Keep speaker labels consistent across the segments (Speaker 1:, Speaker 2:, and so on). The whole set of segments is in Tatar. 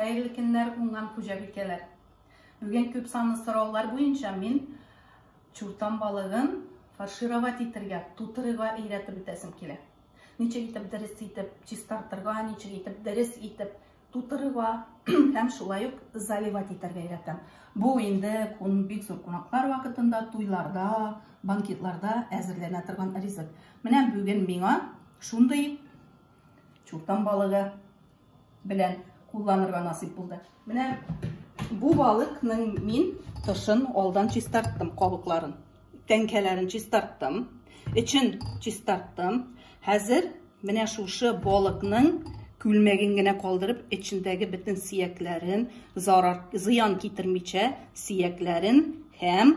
Speaker 1: Хәерле көннәр, уңган хуҗабикәләр! Бүген күп санлы сораулар буенча мин чуртан балыгын фаршировать итергә, тутырыга өйрәтеп үтәсем килә. Ничек итеп дөрес итеп чистартырга, ничек итеп дөрес итеп тутырыга һәм шулай ук заливать итәргә өйрәтәм. Бу инде бик зур кунаклар вакытында, туйларда, банкетларда әзерләнә торган ризык. Менә бүген миңа шундый чуртан балыгы белән кулланырга насыйп булды. Менә бу балыкның мин тышын алдан чистарттым, кабыкларын. Тәңкәләрен чистарттым, эчен чистарттым. Хәзер менә шушы балыкның күлмәген генә калдырып, эчендәге бөтен сиякләрен, зарар, зыян китермичә, сиякләрен һәм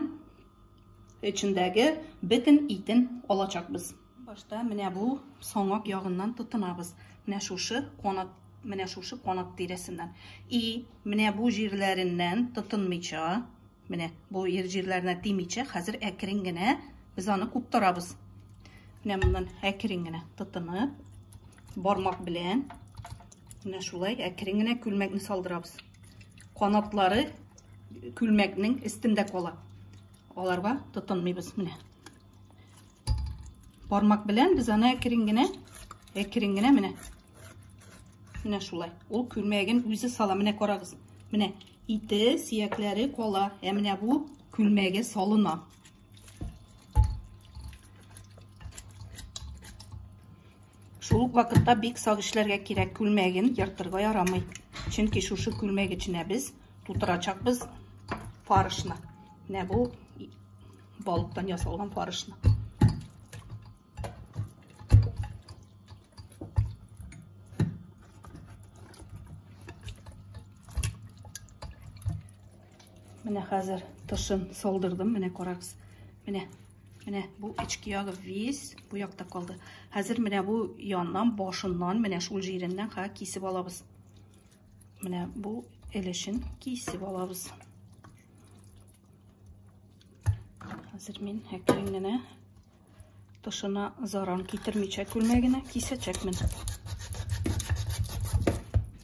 Speaker 1: эчендәге бөтен итен алачакбыз. Башта менә бу соңак ягыннан тотынабыз. Менә шушы канат, менә шушы канат тирәсеннән. И, менә бу җирләреннән тотынмыйча, менә бу ир җирләренә тимичә, хәзер әкрен генә без аны куптарабыз. Менә моннан әкрен генә тотынып, бармак белән менә шулай әкрен генә күлмәкне салдырабыз. Канатлары күлмәкнең өстендә кала. Аларга тотынмыйбыз менә. Бармак белән без аны әкрен генә, әкрен генә менә. Менә шулай. Ул күлмәген үзе сала. Менә карагыз. Менә ите, сиякләре кала. Ә менә бу күлмәге салына. Шул ук вакытта бик сак эшләргә кирәк. Күлмәген ертырга ярамый. Чөнки шушы күлмәк эченә без тутырачакбыз фарышны. Менә бу Балыктан ясалган фарышны. Менә хәзер тышын салдырдым. Менә карагыз. Менә. Менә бу эчке ягы весь бу якта калды. Хәзер менә бу яннан, башыннан, менә шул җиреннән ха кисеп алабыз. Менә бу элешен кисеп алабыз. Хәзер мин әкрен генә тышына заран китермичә күлмәгенә кисәчәкмен.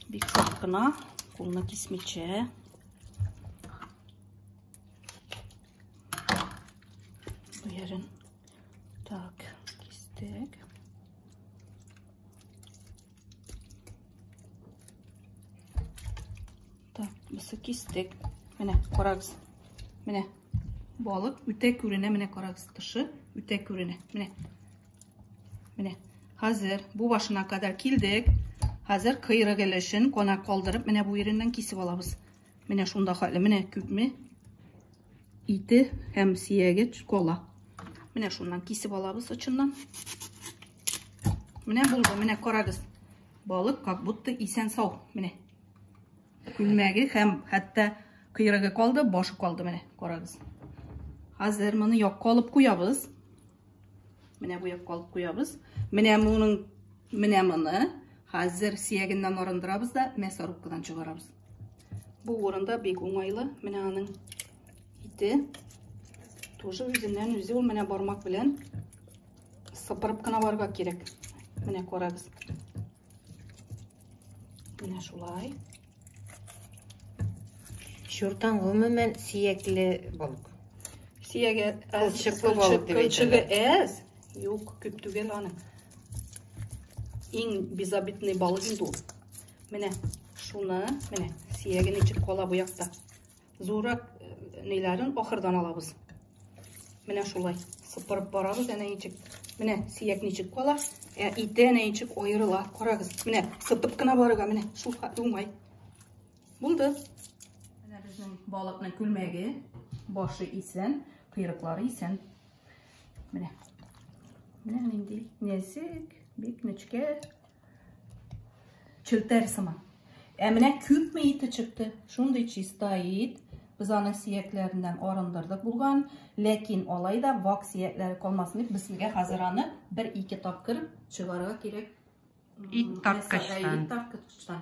Speaker 1: Бик сак кына, кулны кисмичә. Бу ярын. Так, кистек. Так, мысы кистек. Менә, карагыз. Менә, балык үтә күренә, менә карагыз, тышы үтә күренә. Менә. Менә. Хәзер бу башына кадәр килдек. Хәзер кыйрык өлешен кона калдырып, менә бу ереннән кисеп алабыз. Менә шунда хәле, менә күпме ите һәм сияге кола. Менә шуннан кисеп алабыз очыннан. Менә булды, менә карагыз. Балык как будто исән сау. Менә. Күлмәге һәм хәтта кыйрыгы калды, башы калды, менә карагыз. Хәзер моны якка алып куябыз. Менә бу якка алып куябыз. Менә моның менә моны хәзер сиягеннән арындырабыз да мясорубкадан чыгарабыз. Бу урында бик уңайлы. Менә аның ите. Тоже үзеннән үзе ул менә бармак белән сыпырып кына барырга кирәк менә күрәбез менә шулай
Speaker 2: Чуртан гомумән сөякле балык. Сөяге
Speaker 1: кылчыклы
Speaker 2: балык дип Кылчыгы әз.
Speaker 1: Юк, күп түгел аны. Иң безобидный балык инде ул. Менә шуны, менә сөяге ничек кала бу якта. Зуррак ниләрен ахырдан алабыз. Менә шулай сыпырып барабыз, әнә ничек. Менә сиәк ничек кала, ә ите әнә ничек аерыла. Карагыз, менә сытып кына барырга, менә шул уңай. Булды. Менә безнең балыкның күлмәге, башы исән, кыйрыклары исән. Менә. Менә нинди нәзек, бик нечкә. Челтәр сыман. Ә менә күпме ите чыкты? Шундый чиста ит. Без аны сиякләреннән арындырдык булган, ләкин алай да вак сиякләре калмасын дип, безгә хәзер аны бер-ике тапкыр чыгарга кирәк. Ит
Speaker 2: тарткычтан. Ит тарткычтан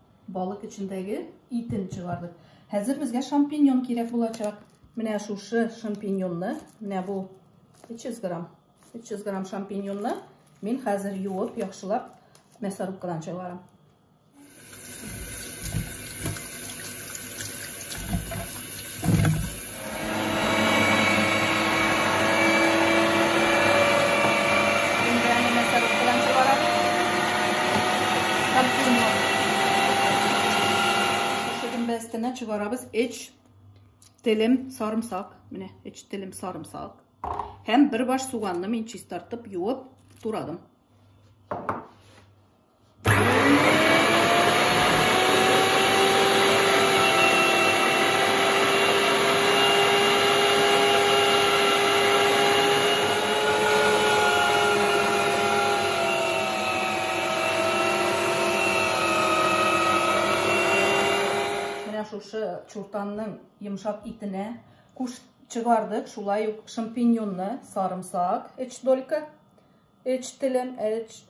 Speaker 1: Балык эчендәге итен чыгардык. Хәзер безгә шампиньон кирәк булачак. Менә шушы шампиньонны, менә бу 300 грамм, 300 грамм шампиньонны мин хәзер юып, яхшылап мясорубкадан чыгарам. Әстенә чыгарабыз 3 телем сарымсак. Менә 3 телем сарымсак. Һәм бер баш суганны мин чистартып, юып, турадым. чуртанның йомшак итенә куш чыгардык, шулай ук шампиньонны, сарымсак, эч долька, Өч телем, өч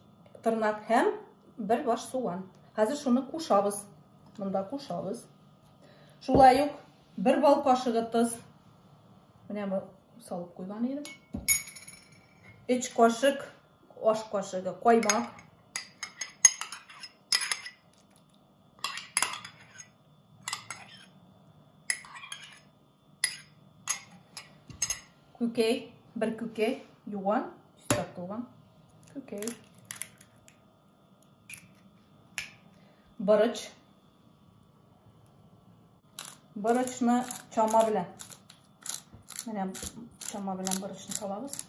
Speaker 1: тырнак һәм бер баш суган. Хәзер шуны кушабыз. Монда кушабыз. Шулай ук бер бал кашыгы тоз. Менә бу салып куйган идем. Өч кашык аш кашыгы каймак. Күкәй, бер күкәй, юан, чистартылган күкәй. Борыч. Борычны чама белән. Менә чама белән борычны салабыз.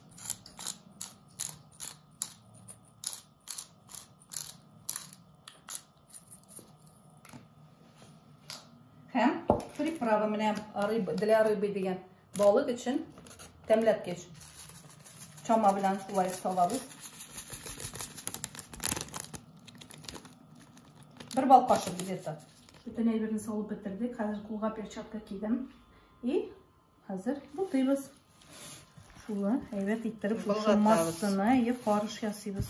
Speaker 1: Һәм приправа менә рыба, для рыбы дигән балык өчен тәмләткеч. Чама белән шулай салабыз. Бер бал кашык где-то. Бөтен әйберне салып бетердек. Хәзер кулга перчатка кидем. И Хәзер бутыйбыз. Шулы әйбәт иттереп шушы массаны ие фарш ясыйбыз.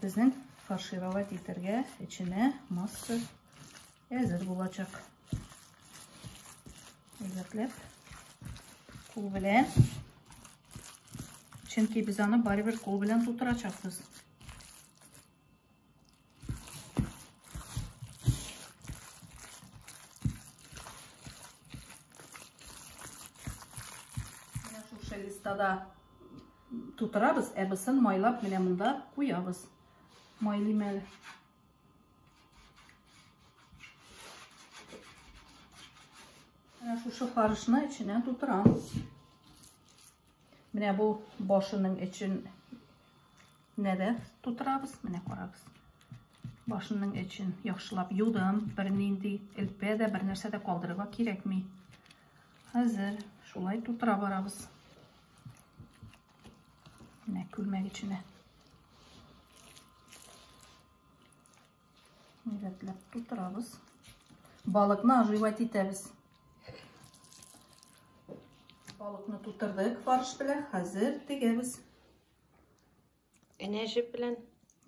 Speaker 1: Безнең фаршировать итәргә эченә масса әзер булачак. Әйбәтләп кул белән. Чөнки без аны барыбер кул белән тутырачакбыз. листада тутырабыз, ә бысын майлап менә монда куябыз. Майлыйм әле. Менә шушы фарышны эченә тутырам. Менә бу башының эчен Нәбәс тутырабыз. Менә карагыз. Башының эчен яхшылап юдым. Бернинди элпә дә, бернәрсә дә калдырырга кирәкми. Хәзер шулай тутыра барабыз. Менә күлмәк эченә. Рәтләп тутырабыз. Балыкны оживать итәбез. Балыкны тутырдык фарш белән. Хәзер тегәбез. Энә
Speaker 2: җеп белән?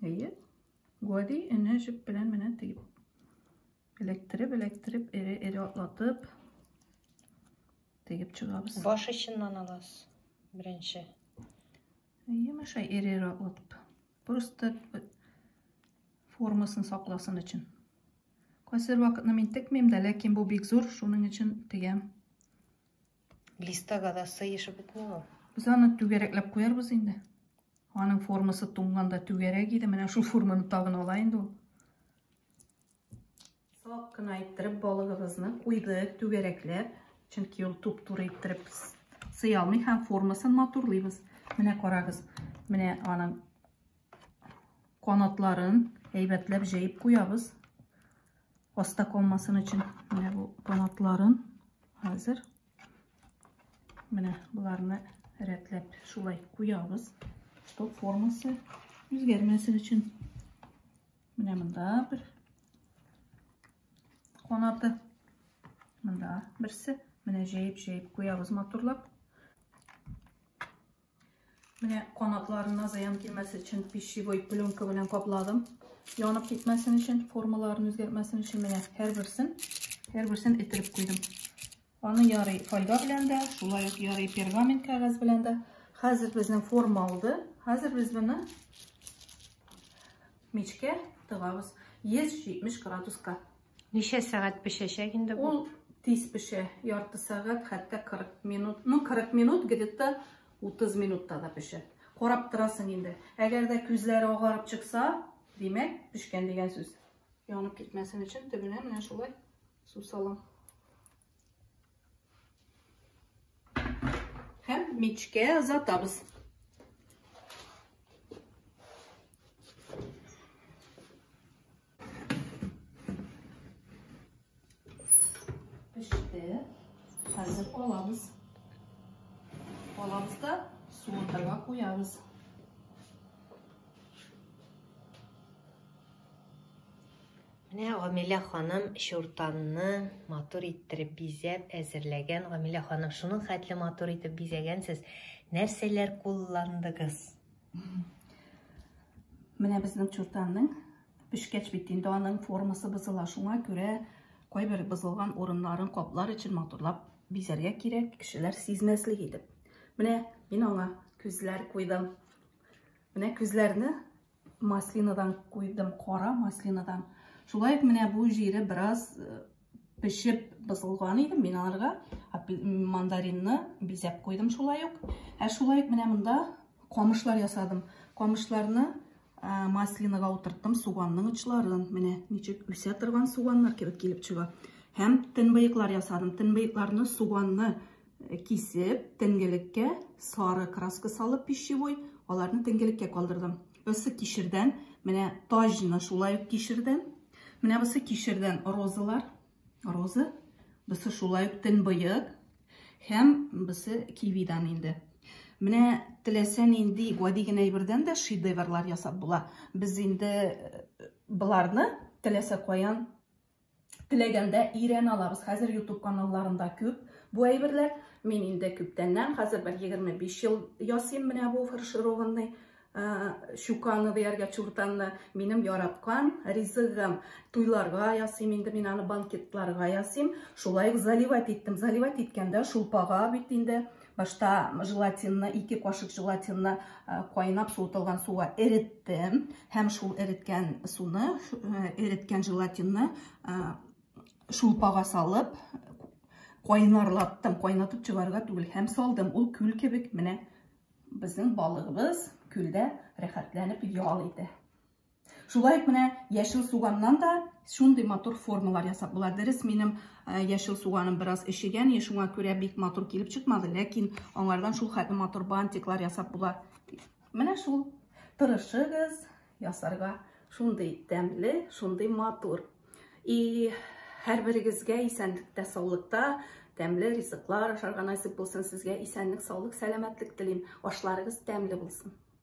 Speaker 2: Әйе.
Speaker 1: Гади энә җеп белән менә тиеп. Эләктереп, эләктереп, эре-эре атлатып тегеп чыгабыз. Баш очыннан аласыз
Speaker 2: беренче.
Speaker 1: Әйе, мәшә эре-эре атлатып. Просто формасын сакласын өчен. Кайсыр вакытны мин текмим дә, ләкин бу бик зур, шуның өчен тегәм.
Speaker 2: Листага да сыешып бетми ул. Без аны түгәрәкләп
Speaker 1: куярбыз инде. Аның формасы туңганда түгәрәк иде. Менә шул форманы тагын ала инде ул. Сак кына иттереп балыгыбызны куйдык түгәрәкләп. Чөнки ул туп-туры иттереп сыя алмый һәм формасын матурлыйбыз. Менә карагыз. Менә аның Канатларын әйбәтләп җәеп куябыз. Аста калмасын өчен менә бу канатларын хәзер менә боларны рәтләп шулай куябыз, чтоб формасы үзгәрмәсен өчен. Менә монда бер канаты, монда берсе, менә җәеп-җәеп куябыз матурлап. Менә канатларына зыян килмәсе өчен пищевой пленка белән капладым. Янып китмәсен өчен, формаларын үзгәртмәсен өчен менә һәрберсен, һәрберсен эттереп куйдым. Аны ярый фольга белән дә, шулай ук ярый пергамент кәгазь белән дә. Хәзер безнең форма алды. Хәзер без моны мичкә тыгабыз 170 градуска. Ничә сәгать
Speaker 2: пешәчәк инде бу? Ул тиз пешә,
Speaker 1: ярты сәгать, хәтта 40 минут. Ну, 40 минут где-то 30 минутта да пешә. Карап торасың инде. Әгәр дә күзләре агарып чыкса, димәк, пешкән дигән сүз. Янып китмәсен өчен төбенә менә шулай су салам. Һәм мичкә озатабыз. Пеште. Хәзер алабыз. Алабыз да суындырга куябыз.
Speaker 2: Менә Гамилә ханым шуртанны матур иттереп бизәп әзерләгән. Гамилә ханым, шуның хәтле матур итеп бизәгәнсез. Нәрсәләр кулландыгыз?
Speaker 1: Менә безнең чуртанның пешкәч бит инде аның формасы бозыла. Шуңа күрә кайбер бозылган урыннарын каплар өчен матурлап бизәргә кирәк, кешеләр сизмәслек итеп. Менә мин аңа күзләр куйдым. Менә күзләрне маслинадан куйдым, кара маслинадан. Шулай ук менә бу җире бераз э, пешеп бозылган иде мин аларга мандаринны бизәп куйдым шулай ук ә шулай ук менә монда камышлар ясадым камышларны маслинага утырттым суганның очларын менә ничек үсә торган суганнар кебек килеп чыга һәм төнбыеклар ясадым төнбыекларны суганны э, кисеп төнгелеккә сары краска салып пищевой аларны төнгелеккә калдырдым Бусы кишердән, менә таҗны шулай ук кишердән. Менә бусы кишердән розалар, роза. Бусы шулай ук төнбоек һәм бусы кивидан инде. Менә теләсә нинди гади генә әйбердән дә шедеврлар ясап була. Без инде э, боларны теләсә каян Теләгәндә ирән алабыз. Хәзер YouTube каналларында күп бу әйберләр. Мин инде күптәннән, хәзер бер 25 ел ясыйм менә бу фаршированный щуканы дияргә чуртанны. Минем яраткан ризыгым. Туйларга ясыйм инде мин аны банкетларга ясыйм. Шулай ук заливать иттем. Заливать иткәндә шулпага бит инде Башта желатинны, ике кашык желатинны э, кайнап суытылган суга эреттем. Һәм шул эреткән суны, э, эреткән желатинны э, шулпага салып, кайнарлаттым. Кайнатып чыгарга түгел, һәм салдым. Ул күл кебек менә безнең балыгыбыз күлдә рәхәтләнеп ял итә. Шулай ук менә яшел суганнан да шундый матур формалар ясап була. Дөрес, минем э, яшел суганым бераз эшегән, шуңа күрә бик матур килеп чыкмады, ләкин аңардан шул хәтле матур бантиклар ясап була. Менә шул тырышыгыз ясарга шундый тәмле, шундый матур. И һәрберегезгә исәнлектә, саулыкта, тәмле ризыклар ашарга насип булсын сезгә. Исәнлек, саулык, сәламәтлек телим. Ашларыгыз тәмле булсын.